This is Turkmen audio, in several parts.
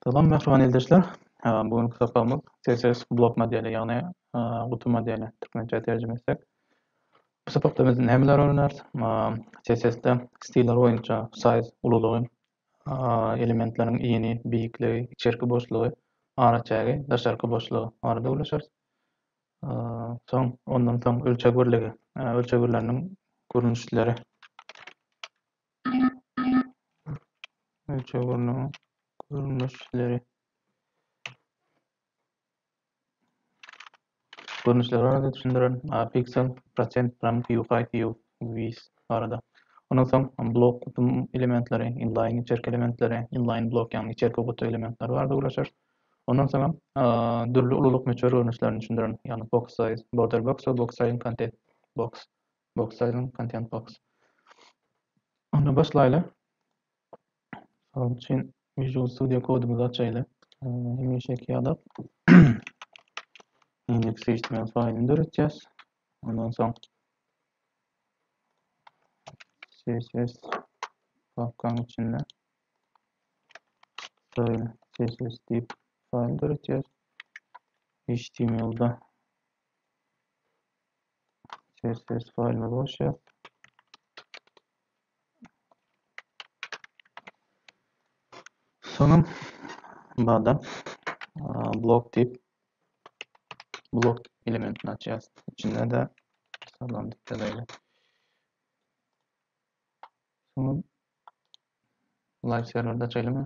Salam mähriban ildeşler. Bu günki sapagymy CSS blok modeli, ýagny gutu modeli türkmençe terjime etsek. Bu sapakda biz nämeleri öwreneris? CSS-de stiller boýunça size ululygy, elementleriň ini, beýikligi, içerki boşlugy, araçägi, daşarky boşlugy barada gürleşeris. Soň ondan soň ölçeg birligi, ölçeg birliginiň görnüşleri. Ölçeg urnunyň görnüşleri. Görnüşleri barada düşündiren piksel, prosent, gram, Q, Q, vis barada. Ondan soň blok kutum elementleri, inline içerki elementleri, inline blok ýagny içerki kutu elementleri barada gürleşer. Ondan soň dürli ululyk möçber görnüşlerini düşündiren, ýagny box size, border box, box size, content box Box Silent Content Box Onda başlaýly. Şonuň üçin Visual Studio kodumyzy açaýly. Hemişeki ýaly index.html faýlyny döretýäs. Ondan soň CSS papkanyň içinde style CSS diýip faýl döretýäs. HTML-da CSS faýlyny boş ýaz. Soňam bada blok diýip blok elementini açýas. Içinde de salam diýip ýazaýly. Soňam live serwerde açaýlymy?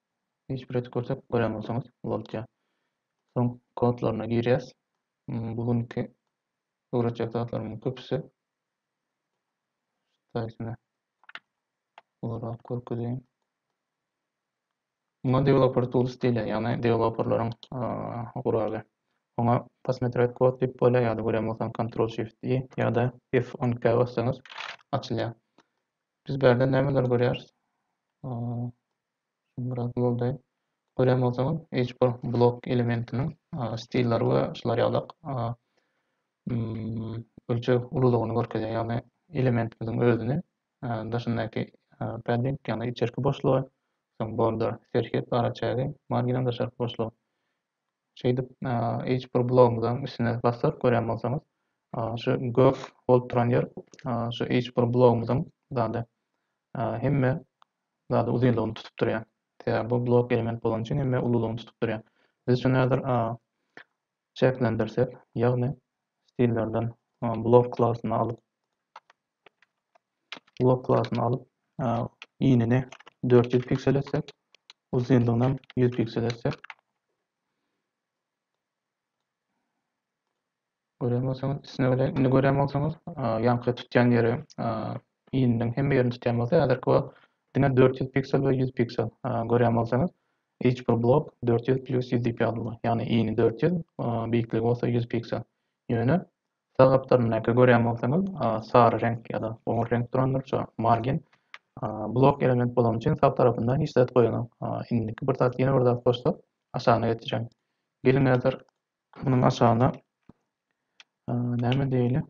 Hiç bir zat görse gören bolsaňyz bolupdyr. Soň kodlaryna girýäs. Bu günki öwretjek zatlarymyň köpüsi Taýsyny ularak görkezeýin. Muňa developer tools diýilýär, ýagny deweloperleriň guraly. Oňa posmetret kod diýip bolýar ýa-da gören bolsaň Ctrl Shift I ýa-da F10K bassaňyz açylýar. Biz bu ýerde nämeleri görýäris? Şuny biraz ýoldaýyn. Görýän bolsaňyz, hiç bir blok elementiniň stilleri we şular ýalak ölçeg ululygyny görkezýär. Ýagny elementimiziň özüni, daşyndaky padding, ýagny içerki boşlugy, soň border, serhet, araçägi, marginem daşarky boşlugy. Şeýdip, hiç bir blogumyzyň üstüne bassak, görýän bolsaňyz, şu gök bolup duran ýer şu hiç bir blogumyzyň zady hemme zady uzynlygyny tutup durýar. Sebäbi bu blok element bolany üçin hemme ululygyny tutup durýar. Biz şuny häzir a çäklendirsek, ýagny stillerden blok klasyny alyp, blok klasyny alyp, inini dört ýüz piksel etsek, uzynlygyny hem ýüz piksel etsek, Görýän bolsaňyz, üstüne welin indi görýän bolsaňyz, ýaňky tutýan ýeri iýniniň hemme ýerini tutýan bolsa, häzirki wagt diňe dört ýüz piksel we ýüz piksel. Görýän bolsaňyz, each bir blok dört ýüz pljus ýüz diýip ýazyldy. Ýagny iýni dört ýüz, beýikligi bolsa ýüz piksel. Ýöne sag gapdalyndaky görýän bolsaňyz, sary reňk ýa-da goňur reňk durandyr şu margin. Blok element bolany üçin sag tarapynda hiç zat goýanok. Indiki bir zat ýene bir zat goşsak aşagyna geçirýän. Geliň häzir Munuň aşagynda näme diýeli?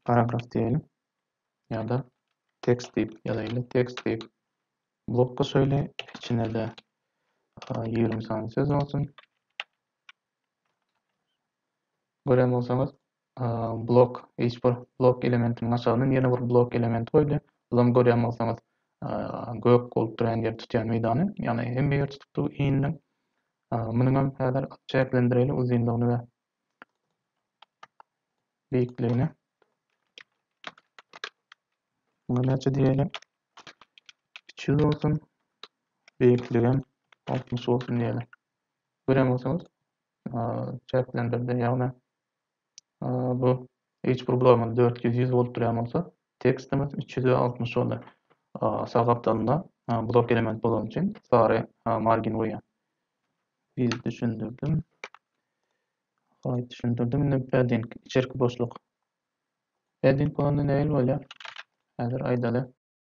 Paragraf diýeli. Ýa-da tekst diýip ýazaýly. Tekst diýip blok goşaýly. Içine-de 20 sany söz bolsun. Gören bolsaňyz, blok hiç bir blok elementiniň aşagyna ýene bir blok elementi goýdy. Bulam görýän bolsaňyz gök bolup duran ýer tutýan meýdany. Ýagny hemme ýer tutup dur indi. Munuň hem häzir çäklendireli uzynlygyny we beýikligini. Muňa näçe diýeli? 200 bolsun. Beýikligim 60 bolsun diýeli. Görýän bolsaňyz çäklendirdi. Ýagny bu hiç bir blogumyz dört ýüz ýüz bolup durýan bolsa tekstimiz üç ýüz altmyş boldy sag gapdalynda blok element bolany üçin sary margin goýýan biz düşündirdim Haýt düşündirdim indi padding içerki boşluk padding bolanda nähili bolýar häzir aýdaly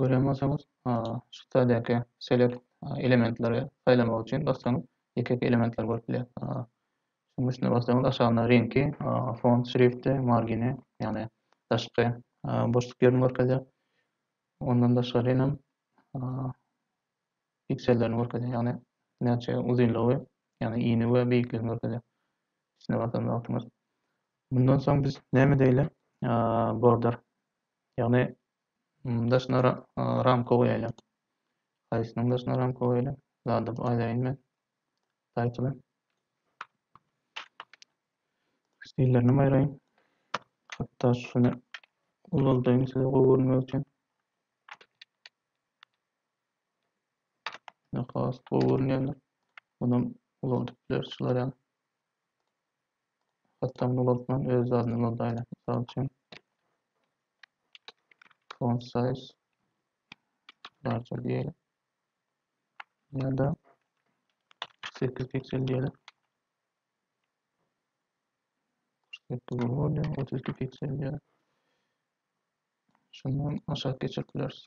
Görýän bolsaňyz, şu täzäki Select elementleri saýlamak üçin bassaňyz, ýeke-ýeke elementleri görüp bilýäris. Şunuň üstüne bassaňyz, aşagynda reňki, font, şrifti, margini, ýagny daşky boşluk ýerini görkezýär. Ondan daşgary hem piksellerini görkezýär, ýagny näçe uzynlygy, ýagny ini we beýikligini görkezýär. Üstüne basanda wagtyňyz. Mundan soň biz näme diýeli? Border. Ýagny daşyna ramka goýaýly. Haýsynyň daşyna ramka goýaýly? Zady aýdaýyn men. Title. Stillerini aýraýyn. Hatda şuny ulaldaýyn size gowy görünmegi üçin. Ýöne has gowy görünýändir. Munam ulanyp bileris şular ýaly. Hatda muny ulantman öz zadyny ulandaýyn. Mysal üçin font size large diýeli. Ýa-da 8 piksel diýeli. 8 bolýar, 32 piksel diýeli. Şundan aşak geçirip bileris.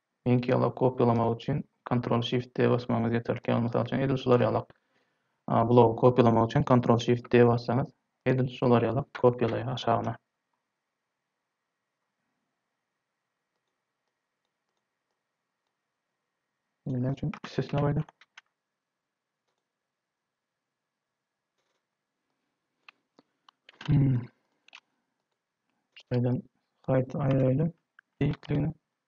Link ýaly kopýalamak üçin Ctrl Shift D basmagyňyz ýeterlik. Ýagny mysal üçin edil şular ýalak blogy kopýalamak üçin Ctrl Shift D bassaňyz edil şular ýalak kopýalaýar aşagyna. Indi näme üçin üstesine goýdy? Hmm. Şeýden sayt aýraýly. Ilkligini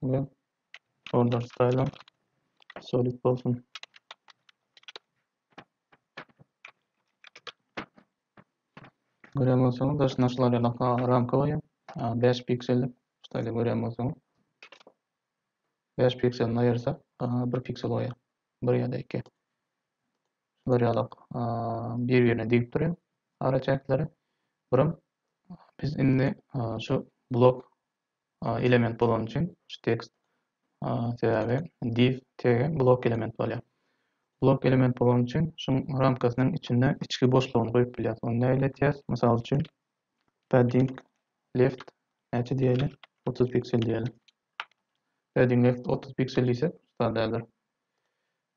we order style solid bolsun. Görýän bolsaňyz, daş naşlar ýalaka ramka goýýan. 5 piksellik, şeýle görýän bolsaňyz. 5 pikselini aýyrsak, 1 piksel goýýar. 1 ýa-da 2. Şular ýalak bir-birine degip durýar ara çäkleri. Birim biz indi şu blok element bolany üçin şu tekst sebäbi div tege blok element bolýar. Blok element bolany üçin şu ramkasynyň içinde içki boşlugyny goýup bilýär. Ony näle ters? Mysal üçin padding left näçe diýeli? 30 piksel diýeli. Padding left 30 piksel diýsek, sadädir.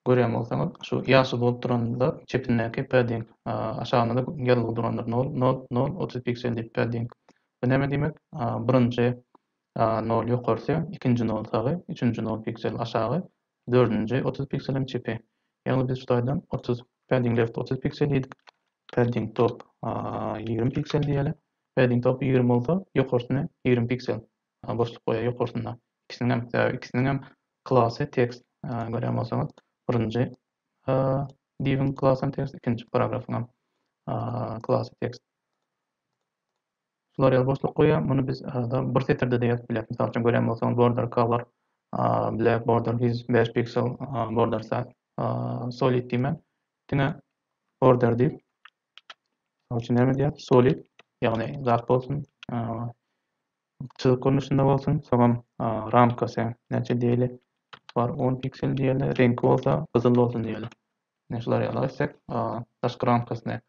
Görýän bolsaňyz, şu ýaşyl bolup duranlar çepindäki padding, aşagynda-da ýazylgy durandyr, nol, nol, nol, otuz piksel diýip, padding. Bu näme diýmek? Birinji nol ýokarsy, ikinji nol sagy, üçünji nol piksel aşagy, dördünji otuz piksel hem çepi. Ýagny biz şu taýdan otuz, padding left otuz piksel diýdik, padding top ýigrimi piksel diýeli, padding top ýigrimi bolsa, ýokarsyny ýigrimi piksel boşluk goýaý ýokarsynda ikisiniňem sebäbi ikisiniňem klasy tekst görýän bolsaňyz birinji diwiň klasam tekst ikinji paragrafyňam klasy tekst şular ýaly boşluk goýýan muny biz bir setirdede ýazyp bileris mysal üçin görýän bolsaňyz border color black border his bäş piksel border size solid diýmän diňe border diýip Mysal üçin näme diýýär? Solid, ýagny zat bolsun, çyzyk görnüşinde bolsun, soňam ramkasy näçe diýeli, bar on piksel diýeli, reňki bolsa gyzyl bolsun diýeli. Ine şular ýaly etsek, daşky ramkasyny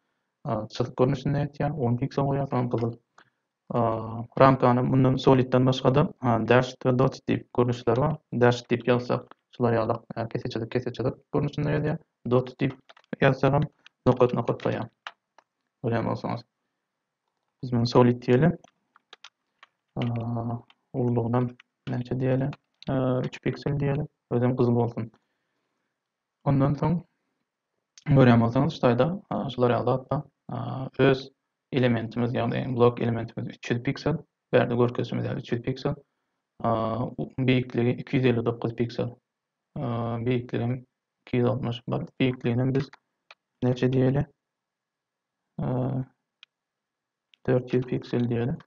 çyzyk görnüşinde etýär, on piksel goýýar, soňam gyzyl. Ramkanyň mundan Solid-den başga-da, Dashed we Dots diýip görnüşleri bar. Dashed diýip ýazsak, şular ýalak keseçelik keseçelik görnüşinde gelýär. Dots diýip ýazsagam nokat nokat goýýar. Görýän bolsaňyz. Biz muny Solid diýeli. Ululygynam näçe diýeli? 3 piksel diýeli. Özem gyzyl bolsun. Ondan soň görýän bolsaňyz ştaýda şular ýaly zatda öz elementimiz ýagny blok elementimiz üç ýüz piksel bärde görkezişimiz ýaly üç ýüz piksel beýikligi iki ýüz elli dokuz piksel beýikligim iki ýüz altmyş bir beýikliginem biz neçe diýeli dört ýüz piksel diýeli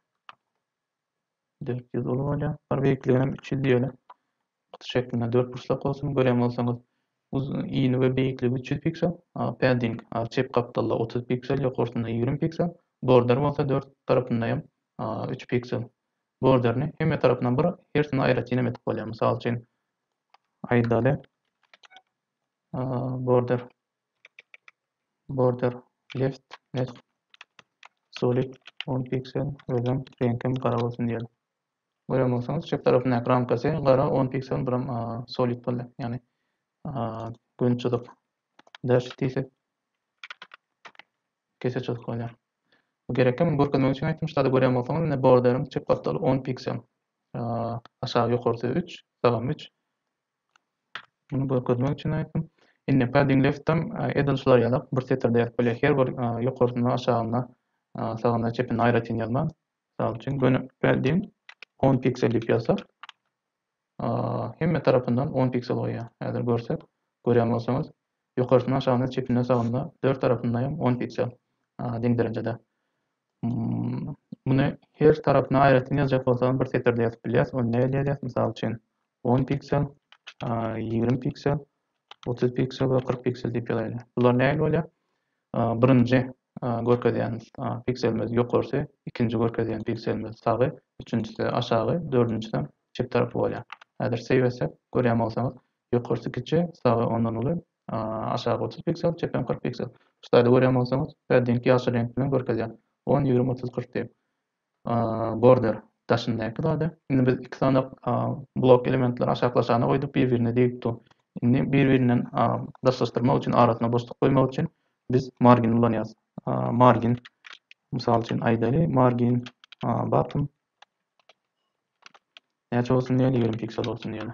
Dört ýüz uly bolýar. Bir beýikliginem üç ýüz ýöne. Kutu şeklinde dört burçlak bolsun. Görýän bolsaňyz, uz ini we beýikligi üç ýüz piksel. Padding çep gapdalda otuz piksel, ýokarsynda ýigrimi piksel. Border bolsa dört tarapynda hem üç piksel. Borderini hemme tarapyndan bir, hersini aýratynam edip bolýar. Mysal üçin, aýdaly, border Border left mesg solid on piksel özem reňkem gara bolsun diýeli. Görýän bolsaňyz çep tarapyndaky ramkasy gara on piksel buram solid boldy. Ýagny gün çyzyk dash diýsek kese çyzyk bolýar. Gerekli muny görkezmek üçin aýtdym. Şurada görýän bolsaňyz indi borderiň çep gapdaly 10 piksel. Aşagy ýokarsy 3, sagam 3, Muny görkezmek üçin aýtdym. Indi padding left-dem edil şular ýalak bir setirde ýazyp bolýar. Her bir ýokarsynda, aşagynda, sagynda, çepinde aýratyn ýazma. Mysal üçin, göni padding on piksel diýip ýazsak, hemme tarapyndan on piksel goýýar. Häzir görsek, görýän bolsaňyz, Ýokarsyna aşagyna çepine sagyna dört tarapyndaýam on piksel deň derejede. Muny her tarapyna aýratyn ýazjak bolsagam bir setirde ýazyp bilýäs. Ony nähili ýazýas? Mysal üçin on piksel, ýigrimi piksel, otuz piksel we kyrk piksel diýip ýazaýly. Bular nähili bolýar? Birinji görkezýän pikselimiz ýokarsy, ikinji görkezýän pikselimiz sagy, üçünjisi aşagy, dördünjisem çep tarapy bolýar. Häzir save etsek görýän bolsaňyz Ýokarsy kiçi, sagy ondan uly, aşagy otuz piksel, çepem kyrk piksel. Slaýda görýän bolsaňyz, bärdinki ýaşyl reňk bilen görkezýän, on, ýigrimi, otuz, kyrk diýip. Border, daşyndaky zady. Indi biz iki sany blok elementleri aşaklaşana goýduk, bir-birine degip dur. Indi bir-birinden daşlaşdyrmak üçin, arasyna boşluk goýmak üçin biz margin ulanýarys. Margin, mysal üçin aýdaly, margin bottom näçe bolsun diýeli, ýigrimi piksel bolsun diýeli.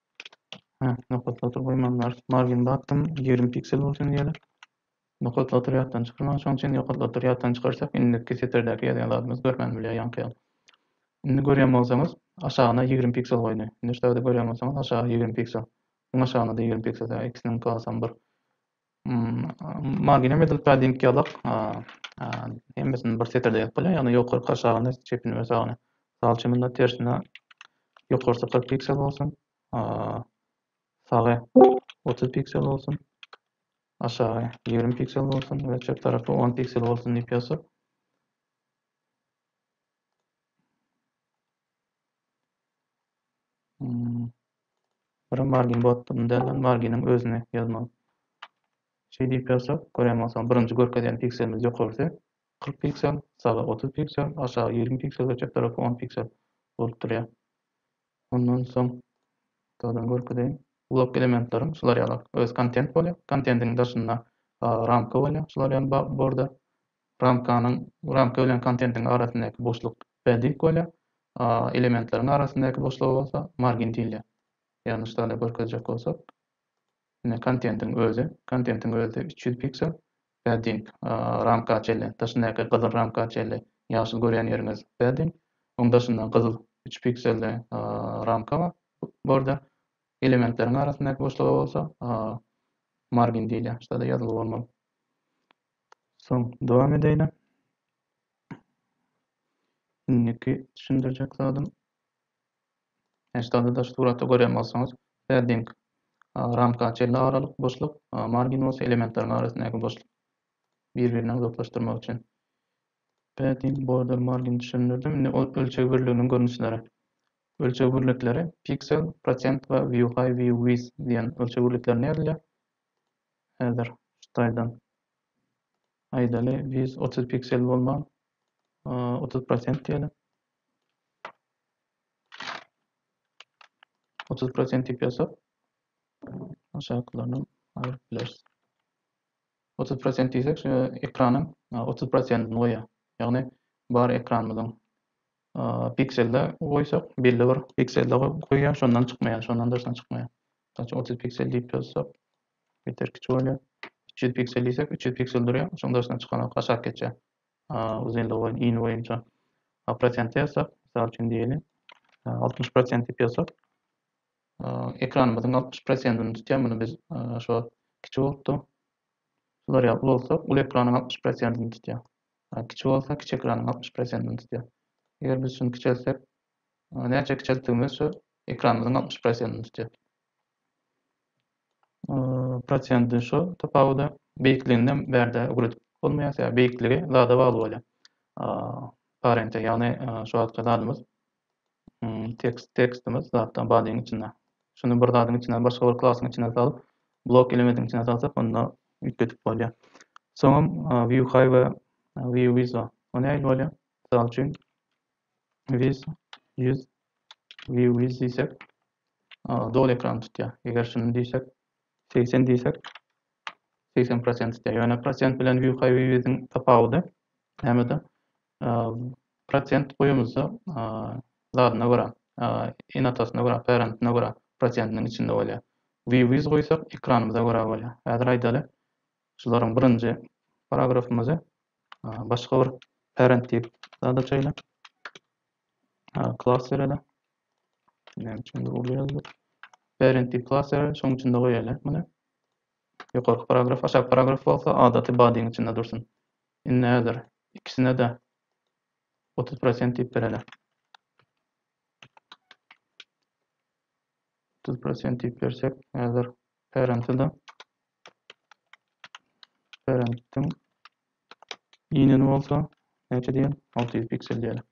Hä, nokat satr goýmandylar. Margin bakdym, ýigrimi piksel bolsun diýýärler. Nokat satr ýatdan çykylan, şoň üçin nokat satr ýatdan çykarsak, indiki setrdäki ýazýan zadymyzy görmän bilýär ýaňky ýaly. Indi görýän bolsaňyz, aşagyna ýigrimi piksel goýdy. Indi şu tagda görýän bolsaňyz, aşagy ýigrimi piksel. Iň aşagyna-da ýigrimi piksel, ýa ikisiniň klasam bir. Magina we Dylpadiň ýazak hemmesini bir setirde ýazyp bolýar, ýagny ýokarky aşagyny çepini we sagyny. Mysal üçin munda tersine ýokarsy kyrk piksel bolsun, sagy otuz piksel bolsun, aşagy ýigrimi piksel bolsun we çep tarapy on piksel bolsun diýip ýazsak. Biri Margin botda, mundäl lan Marginiň özüni ýazmaly. Şeý diýip ýazsak, görýän bolsaň, birinji görkezýän pikselimiz ýokarsy kyrk piksel, sagy otuz piksel, aşagy ýigrimi piksel we çep tarapy on piksel bolup durýar. Ondan soň gowdan görkezeýin. Blok elementleriň şular ýaly öz kontent bolýar. Kontendiň daşynda ramka bolýar, şular ýaly borda. Ramkanyň, ramka bilen kontentiň arasyndaky boşluk bädik bolýar, a elementleriň arasyndaky boşluga bolsa margin diýilýär. Ýagny şitale görkezjek bolsak, ine kontentiň özi, kontentiň özi üç ýüz piksel, bäding ramka çenli, daşyndaky gyzyl ramka çenli, ýaşyl görýän ýeriňiz bäding, oň daşynda gyzyl üç pikselli ramka bar, border, elementleriň arasyndaky boşluga bolsa margin diýilýär, şitale ýazylgy bolmaly. Soň dowam edäýne. Indiki düşündirjek zadym Eşdalda daş suratda görýän bolsaňyz, padding, ramka çenli aralyk, boşluk, margin bolsa elementleriň arasyndaky boşluk. Bir-birini uzaklaşdyrmak üçin padding, border, margin düşündirdim. Indi ölçeg birliginiň görnüşleri. Ölçeg birlikleri piksel, prosent we view high, view width diýen ölçeg birliklerinde ýazylýar. Häzir ştaýdan aýdaly ýüz otuz piksel bolman otuz prosent diýeli. Otuz prosent diýip ýazsak aşakylaryndan aýryp bileris. Otuz prosent diýsek şu ekranyň otuz prosentini goýýar. Ýagny bar ekranymyzyň pikselde goýsak belli bir pikselde goýýar şondan çykmaýar şondan daşyna çykmaýar. Mysal üçin, 30 piksel diýip ýazsak, ýeter kiçi bolýar. 300 piksel diýsek, 300 piksel durýar, şonuň daşyna çykanok aşak geçýär. Uzynlygy boýunça, ini boýunça. A prosenti ýazsak, mysal üçin diýeli, 60 prosent diýip ýazsak, ekranymyzyň 60 prosentini tutýar, muny biz şo kiçi bolupdy. Şular ýaly uly bolsa, uly ekranyň 60 prosentini tutýar. Kiçi bolsa, kiçi ekranyň 60 prosentini tutýar. Eger biz şuny kiçeltsek, Ony näçe kiçeltdigimizçe ekranymyzyň altmyş prosentini tutýar. Prosenti şu tapawuda beýikliginde bärde ugur edip bolmaýar, sebäbi beýikligi zada bagly bolýar. Parente, ýagny şu wagtky zadymyz tekst, tekstimiz zatdan badyň içinde. Şuny bir zadyň içinden, başga bir klasyň içinden salyp, blok elementiň içine salsak, onda üýtgedip bolýar. Soňam view high we view width bar. O nähili bolýar? Mysal üçin, Wiz ýüz view wiz diýsek doly ekrany tutýar. Eger şuny diýsek 80 diýsek 80% tutýar. Ýöne prosent bilen view high view wiziň tapawudy nämede? Prosent goýumyzda zadyna görä, enatasyna görä, parentine görä prosentiniň içinde bolýar. View wiz goýsak ekranymyza görä bolýar. Häzir aýdaly Şularyň birinji paragrafymyzy başga bir parent diýip zada çeýle klas bereli. Näme üçin bu uly ýazdyk? Parent diýip klas bereli, şonuň içinde goýaýly muny. Ýokarky paragraf, aşaky paragraf bolsa adaty bodyň içinde dursun. Indi häzir ikisine-de 30 prosent diýip bereli. 30 prosent diýip bersek, häzir parenti-de Berendtiň ineni bolsa näçe diýen? 600 piksel diýeli.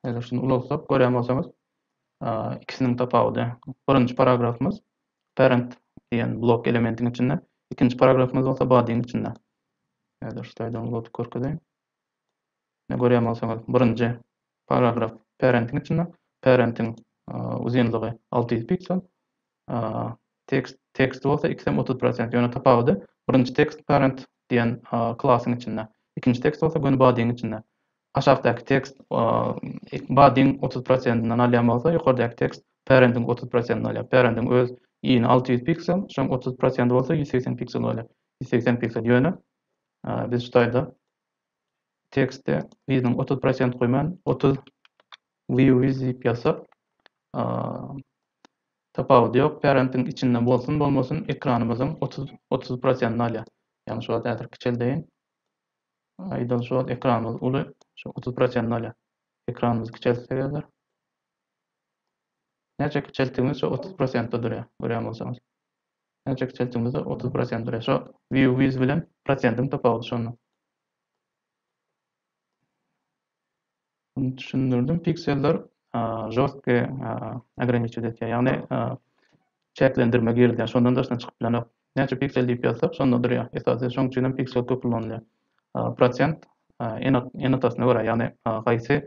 Eger şuny ulalsak, görýän bolsaňyz, ikisiniň tapawudy. Birinji paragrafymyz parent diýen blok elementiň içinde, ikinji paragrafymyz bolsa bodyň içinde. Häzir şeýdäň uzadyp görkezeýin. Ne görýän bolsaňyz, birinji Paragraf Parentiň içinde parentiň uzynlygy alty ýüz piksel, tekst tekst bolsa x hem otuz prosent, ýöne tapawudy birinji tekst parent diýen klasyň içinde, ikinji tekst bolsa göni bodyň içinde. Aşakdaky tekst bodyň otuz prosentinden alýan bolsa, ýokardaky tekst parentiň otuz prosentinden alýar. Parentiň öz yny alty ýüz piksel, şoň otuz prosenti bolsa ýüz segsen piksel bolýar. Ýüz segsen piksel, ýöne biz şu taýda tekste yzynyň otuz prosent goýman otuz views diýip ýazsak tapawudy ýok parentiň içinde bolsun bolmasyn ekranymyzyň otuz otuz prosentini alýar ýagny şu wagt häzir kiçeldeýin aýdaly şu wagt ekranymyz uly şu otuz prosentini alýar ekranymyzy kiçeltsek häzir näçe kiçeltdigimiz şu otuz prosentde durýar görýän bolsaňyz Näçe kiçeltdigiňizde otuz prosent bilen şo view wiz bilen prosentiň tapawudy şonda. Düşündirdim pikseller žorstke ograniçiw etýär ýagny çäklendirme girizýär şondan daşyna çykyp bilenok näçe piksel diýip ýazsak şonda durýar esasy şoň üçinem piksel köp ulanylýar prosent enotasyna görä ýagny haýsy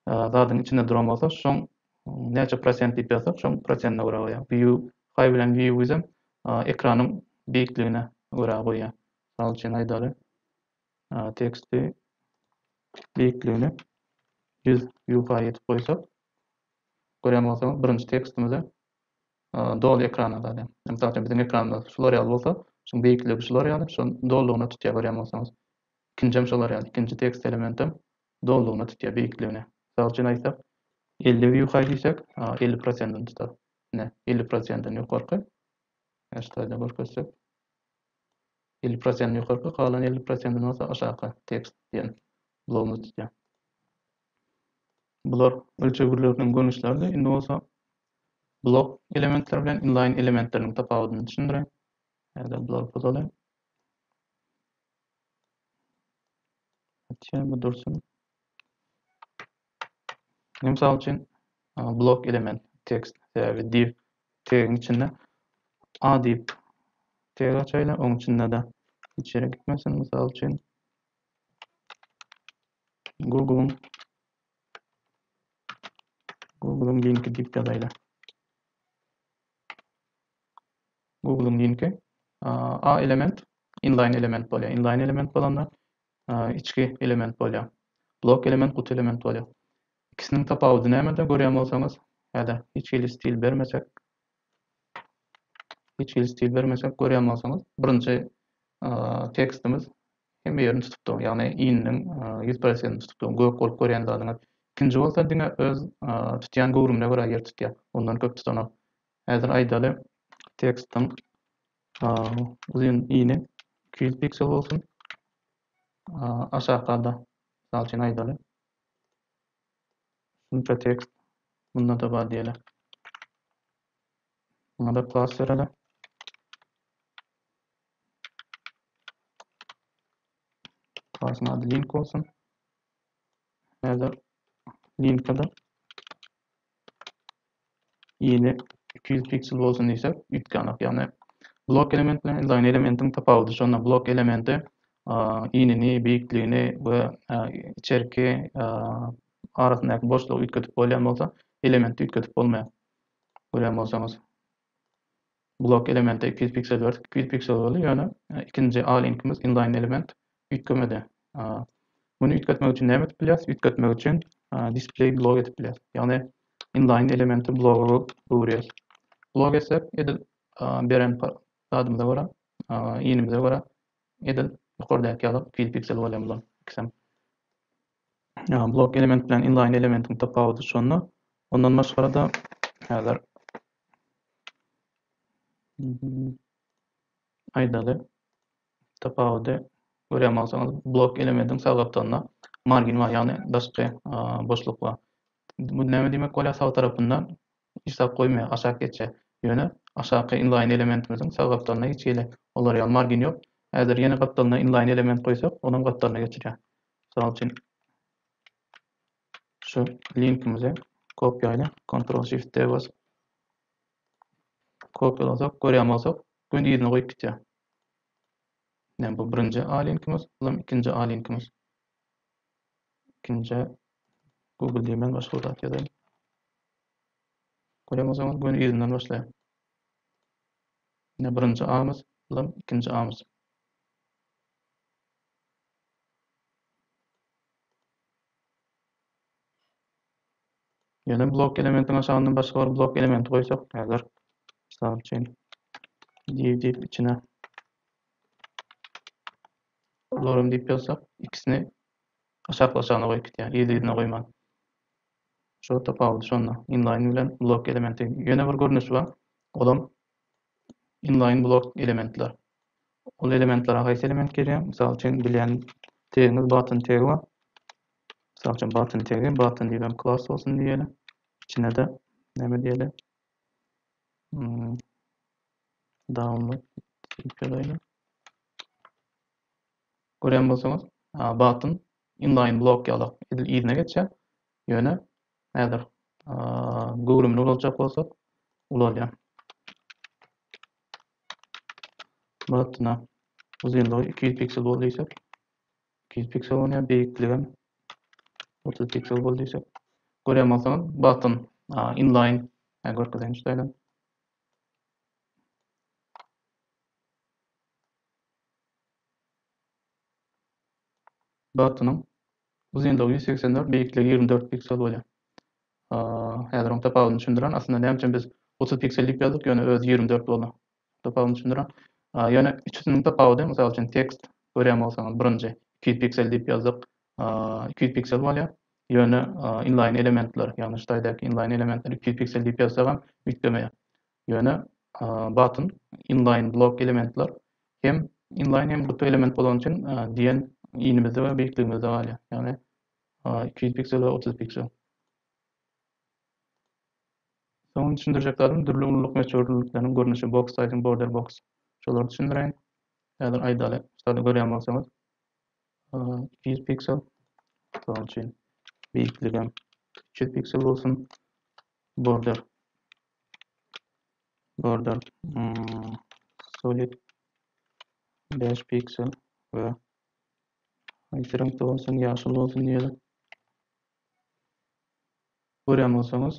zadyň içinde duran bolsa şoň näçe prosent diýip ýazsak şoň prosentine görä goýýar. View high bilen view wizem ekranyň beýikligine görä goýýar. Mysal üçin aýdaly teksti beýikligini 100 view high edip goýsak görýän bolsaňyz birinji tekstimize doly ekrana zady. Mysal üçin biziň ekranymyz şular ýaly bolsa şoň beýikligi şular ýaly şoň dolugyna tutýar görýän bolsaňyz. İkinci hem şolar ýaly ikinji tekst elementim Dolugyna tutýar, beýikligine. Mysal üçin aýtsak, elli ýukaý diýsek, elli prosentini tutar. Ine, elli prosentini ýokarky, her slaýda görkezsek, elli prosentini ýokarky, galan elli prosentini bolsa aşaky tekst diýen blogumyz tutýar. Bular ölçegleriniň görnüşleridi. Indi bolsa blok elementleri bilen inlaýn elementleriniň tapawudyny düşündireýin. Häzir bulary pozalaýyn. Açýarmy dursun. Men mysal üçin blok element tekst täbi div tegiň içinde a diýip teg açaýla, oň içinde de hiç ýere gitmesin. Mysal üçin Google Google linki diýip ýazaýla. Google-yň linki. A element inline element bolýar. Inline element bolanda içki element bolýar. Blok element guty element bolýar. İkisiniň tapawudy nämede görýän bolsaňyz, ýa-da hiç hili stil bermesek, hiç hili stil bermesek görýän bolsaňyz, birinji tekstimiz hemme ýerini tutupdyr. Ýagny ininiň 100%-ni tutupdyr. Gök bolup görýän zadyňyz. İkinji bolsa diňe öz tutýan göwrümine görä ýer tutýar. Ondan köp tutanok. Häzir aýdaly, tekstiň uzynyny iki ýüz piksel bolsun. Aşakda-da, mysal üçin aýdaly, şunça tekst munda-da bar diýeli. Muňa-da klas bereli. Klasyň ady link bolsun. Häzir linka-da Ýyly iki ýüz piksel bolsun diýsek, üýtgänok. Ýagny blok element bilen inline elementiň tapawudy şonda blok elementi ýylyny, beýikligini we içerki arasyndaky boşlugy üýtgedip bolýan bolsa, elementi üýtgedip bolmaýar. Görýän bolsaňyz. Blok elemente iki ýüz piksel berdik. Iki ýüz piksel boldy, ýöne ikinji A-linkimiz inline element üýtgemedi. Muny üýtgetmek üçin näme edip bilýäris? Üýtgetmek üçin display blok edip bilýäris. Ýagny inline elementi bloga öwürýäris. Blok etsek, edil beren zadymyza görä, inimize görä edil ýokardaky ýaly iki ýüz piksel bolýar bular ikisem. Blok element bilen inline elementiň tapawudy şonda. Ondan başga-da häzir aýdaly tapawudy görýän bolsaňyz, blok elementiň sag gapdalynda margin bar, ýagny daşky boşluk bar. Bu näme diýmek bolýar? Sag tarapynda Işläp goýmaýar, aşak geçýär. Ýöne aşaky inlaýyn elementimiziň sag gapdalyna hiç hili olar ýaly margin ýok. Häzir ýene gapdalyna inlaýyn element goýsak, onuň gapdalyna geçirýär. Mysal üçin, şu linkimizi kopýaýly, Ctrl Shift D basyp kopýalasak, görýän bolsak, göni yzyna goýup gitýär. Ine, bu birinji A linkimiz, bu hem ikinji A linkimiz. Ikinjä Google diýmän başga bir zat ýazaýyn. Görýän bolsaňyz göni yzyndan başlaýar. Ine birinji amys bilen ikinji amys. Ýöne blok elementiň aşagyndan başga bir blok elementi goýsak, häzir mysal üçin div diýip içine Bularam diýip ýazsak, ikisini aşaklaşagyna goýup gidýär, yz-yzyna goýman. Şu tapawudy şonda. Inline bilen blok elementi. Ýöne bir görnüşi bar. Olam inline blok elementler. Ol elementlere haýsy element gelýär? Mysal üçin bilýän tegiňiz button tegi bar. Mysal üçin button tegi, button diýip hem klass bolsun diýeli. Içine-de näme diýeli? Hmm. Download ýazaýlym. Görýän bolsaňyz, button inline blok ýaly edil yzyna geçýär. Ýöne häzir göwrümli ulaljak bolsak, ulalýar. Buttona uzynlygy 200 piksel bol diýsek, 200 piksel bolýar, beýikligi hem 30 piksel bol diýsek. Görýän bolsaňyz, button inline, görkezeýin şeýle. Dartynyň uzynlygy ýüz segsen dört, beýikligi ýigrimi dört piksel bolýar. Häzir oň tapawudyny düşündiren. Aslynda näme üçin biz otuz piksel diýip ýazdyk, ýöne özi ýigrimi dört boldy. Tapawudyny düşündiren. Ýöne üçüsiniň tapawudy, mysal üçin, tekst görýän bolsaňyz, birinji iki ýüz piksel diýip ýazdyk, iki ýüz piksel bolýar. Ýöne inline elementler, ýagny ştaýdaky inline elementler iki ýüz piksel diýip ýazsagam üýtgemeýär. Ýöne button inline blok elementler hem inline hem guty element bolany üçin diýen inimizde we beýikligimizde galýar. Ýagny iki ýüz piksel we otuz piksel. Soňra düşündirjek zadym dürli ululyk möçberlikleriniň görnüşi box size border box. Şolary düşündireýin. Häzir aýdaly, ştady görýän bolsaňyz. 200 piksel. Misal üçin, beýikligem 300 piksel bolsun. Border border hmm, solid 5 piksel we haýsy reňkde bolsun, ýaşyl bolsun diýeli. Görýän bolsaňyz,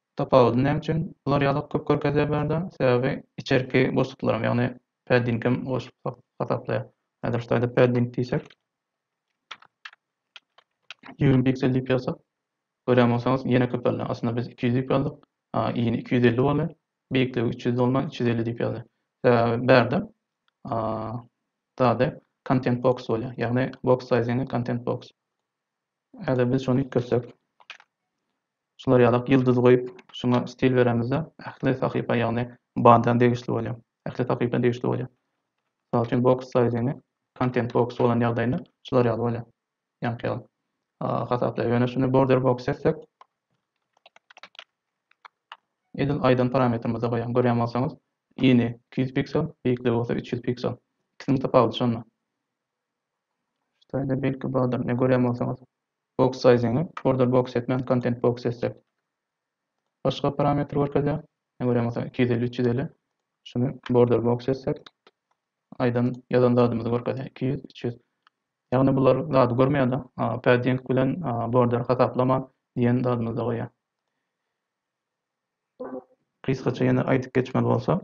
Tapawudy näme üçin bular ýalak köp görkezýär bu ýerde? Sebäbi içerki boşluklaram, ýagny paddingem goşup hasaplaýar. Häzir şu taýda padding diýsek, ýigrimi piksel diýip ýazsak, görýän bolsaňyz ýene köpeldi. Aslynda biz iki ýüz diýip ýazdyk, a yny iki ýüz elli boldy. Beýikligi üç ýüz dolman üç ýüz elli diýip ýazdy. Sebäbi bärde zady content box bolýar, ýagny box sizingi content box. Häzir biz şony üýtgetsek, Şular ýalak ýyldyz goýup şuňa stil beremizde ähli sahypa ýagny banda degişli bolýa. Ähli sahypa degişli bolýa. Mysal üçin box saýdyny content box bolan ýagdaýynda şular ýaly bolýa. Ýaňky ýaly. Hasaplaýa. Ýöne şuny border box etsek edil aýdan parametrimize goýaň. Görýän bolsaňyz yny iki ýüz piksel beýikligi bolsa üç ýüz piksel. Ikisiniň tapawudy şonda. Şeýle belki bardyr. Ine görýän bolsaňyz Box size-iňi order box etmän content box etsek başga parametr görkezýär. Ine görýän bolsaň iki ýüz elli üç ýüz elli. Şuny border box etsek aýdan ýazan zadymyzy görkezýär iki ýüz üç ýüz. Ýagny bular zady görmeýärda padding bilen border hasaplama diýen zadymyzda goýýar. Gysgaça ýene aýdyp geçmeli bolsa.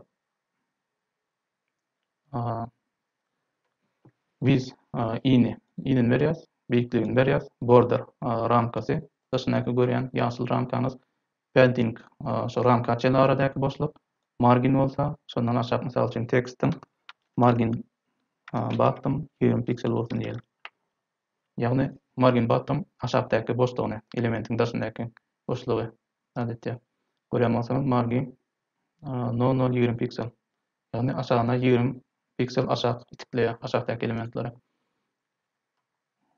Biz ini, inini berýäs, beýikligini berýäs, border, ramkasy, daşyndaky görýän ýaşyl ramkaňyz, padding, şo ramka çenli aradaky boşluk, margin bolsa, şondan aşak, mysal üçin, tekstiň margin batdym, ýigrimi piksel bolsun diýeli. Ýagny, margin batdym, aşakdaky boşlugyny, elementiň daşyndaky boşlugy, adatça, görýän bolsaňyz, margin nol-nol ýigrimi piksel, ýagny aşagyna ýigrimi piksel aşak itikleýär, aşakdaky elementleri.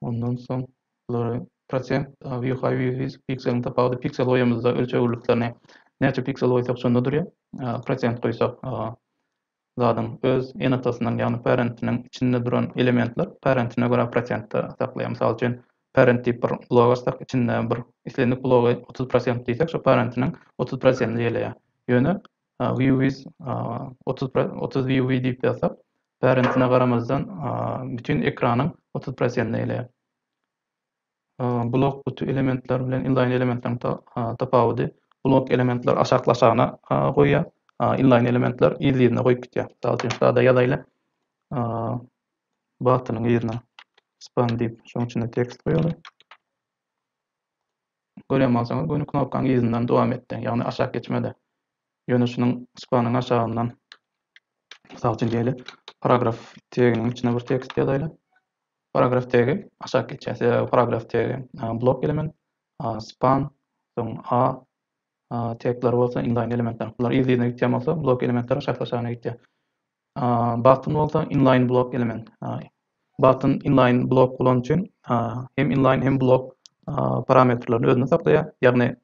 Ondan soň bulary prosent, view high, view width, pikseliň tapawudy, piksel goýamyzda ölçeg gurluklarny näçe piksel goýsak şonda durýar, prosent goýsak zadyň öz ene-atasynyň, ýagny parentiniň içinde duran elementler parentine görä prosentde saklaýar. Mysal üçin, parent diýip bir blok açsak, içinde bir islendik blogy otuz prosent diýsek, şo parentiniň otuz prosentini eýeleýär. Ýöne view is otuz otuz view we diýip ýazsak, parentine garamazdan bütin ekranyň otuz prosentini eýeleýär. Blok guty elementler bilen inlaýn elementleriň tapawudy, blok elementler aşakly-aşagyna goýýar, inlaýn elementler yzly-yzyna goýup gidýär. Mysal üçin, sada ýazaýly, batynyň yzyna span diýip, şonuň içine tekst goýaly. Görýän bolsaňyz, göni knopkanyň yzyndan dowam etdi, ýagny aşak geçmedi. Ýöne şunuň spanyň aşagyndan, mysal üçin, diýeli, paragraf teginiň içine bir tekst ýazaýly. Paragraf tegi, aşak geçýär. Size paragraf tegi, blok element, span, soň a tekleri bolsa inline elementler. Bular yz-yzyna gitýän bolsa, blok elementler aşak-aşagyna gitýär. Button bolsa inline blok element. Button inline blok bolany üçin hem inline hem blok parametrlerini özünde saklaýar. Ýagny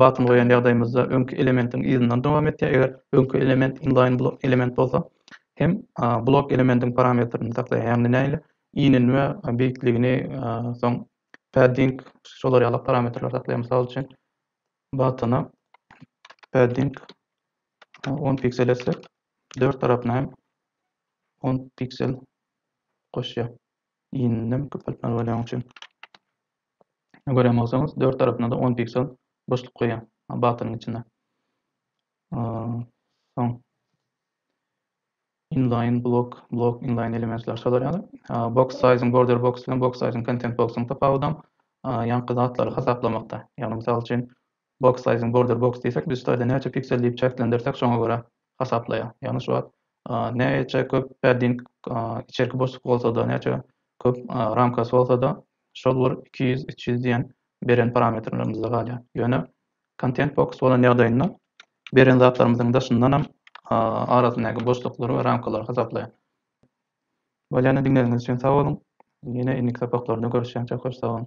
Batyn goýan ýagdaýymyzda öňki elementiň yzyndan dowam etýär, eger öňki element inline blok element bolsa hem blok elementiň parametrini saklaýar, ýagny nähili iýninme beýikligini soň padding şolar ýaly parametrleri saklaýar, mysal üçin batyna padding on piksel etsek dört tarapyna hem on piksel goşýar iýninem köpeltmeli bolýany üçin. gören bolsaňyz dört tarapyna-da on piksel boşluk goýýan batonyň içinde. Soň inline blok, blok inline elementler şolar ýaly. Box sizing border box bilen box sizing content box-yň tapawudam ýaňky zatlary hasaplamakda. Ýagny mysal üçin Box size-iň border box diýsek biz ştaýda näçe piksel diýip çäklendirsek şoňa görä hasaplaýar. Ýagny şu wagt näçe köp padding içerki boşluk bolsada näçe köp ramkasy bolsada şol bir iki ýüz üç ýüz diýen beren parametrlerimizde galýar. Ýöne content box bolan ýagdaýynda beren zatlarymyzyň daşyndanam arasyndaky boşluklary we ramkalary hasaplaýar. Bolýana diňlegiňiz üçin sag boluň. Ýene indiki sapaklarda görüşýänçäk hoş sag boluň.